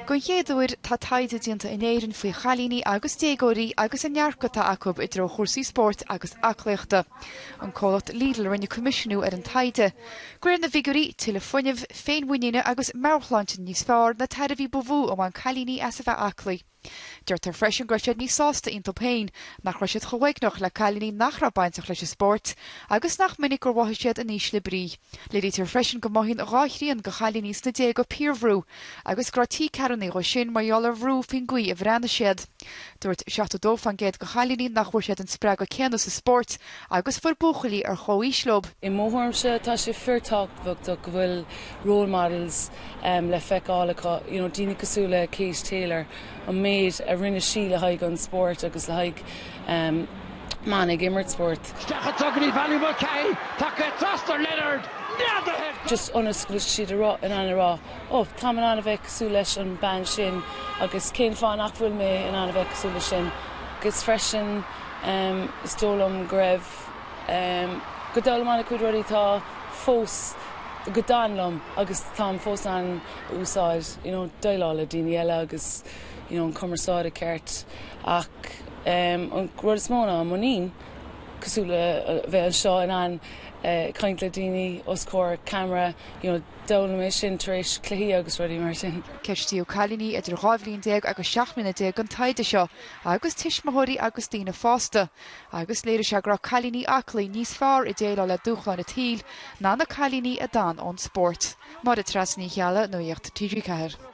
Don chéad uair, tá taighde déanta in Éirinn faoi chailíní agus déagóirí agus an ndearcadh atá acu i dtreo chúrsaí spóirt agus aclaíochta. An comhlacht Lidl a rinne coimisiúnú ar an taighde. De réir na bhfigiúirí, tuilleadh fuinnimh, féinmhuiníne agus meabhairshláinte níos fearr na tairbhí ba mhó a bhain cailíní as a bheith aclaí. Deirtear freisin go raibh siad níos sásta iontu féin, nach raibh siad chomh uaigneach le cailíní nach raibh bainteach leis an spórt, agus nach minic gur mhothaigh siad in ísle brí. Léirítear freisin go mothaíonn dhá thrian de chailíní sna déaga piarbhrú, agus go raibh trí ceathrúnaí dhó sin mar gheall ar bhrú faoin gcaoi a bhreathnaigh siad. Dúirt 72% de chailíní nach bhfuair siad an spreagadh céanna sa spórt Agus fuair buachaillí ar chomhaois leob. I mo thuairimse, tá sé fíorthábhachtach go bhfuil role models le feiceáil acu, you know daoine cosúil le Katie Taylor, an méid a rinne sí le haghaidh an spóirt agus le haghaidh mban ag imirt spóirt. Isteach i dtreo Valerie Mulcahy, tacaithe trasna ar Leonard, neadaithe! Just ionas go bhfuil siad in ann a rá, oh, táim in ann a bheith cosúil leis an bean sin agus cén fáth nach bhfuil mé in ann a bheith cosúil leis sin? Agus freisin. Is dóigh liom go raibh, go d'fhoghlaim mé an-chuid rudaí atá fós go dtagann liom agus táim fós á n-úsáid, you know, déileáil le daoine eile agus, you know, an cumarsáid ceart ach an rud is mó ná an muinín cosúil le bheith anseo in ann caint le daoine os comhair camera, you know, d'fhoghlaim mé sin tar éis cluichí agus rudaí mar sin. Ceistíodh cailíní idir 12 bhliain agus 17 mbliana don taighde seo. agus tuismitheoirí agus daoine fásta, agus léirigh sé go raibh cailíní aclaí níos fearr ag déileáil le dúshláin an tsaoil ná na cailíní a d'fhan ón spórt. Máire Treasa Ní Cheallaigh, Nuacht TG4.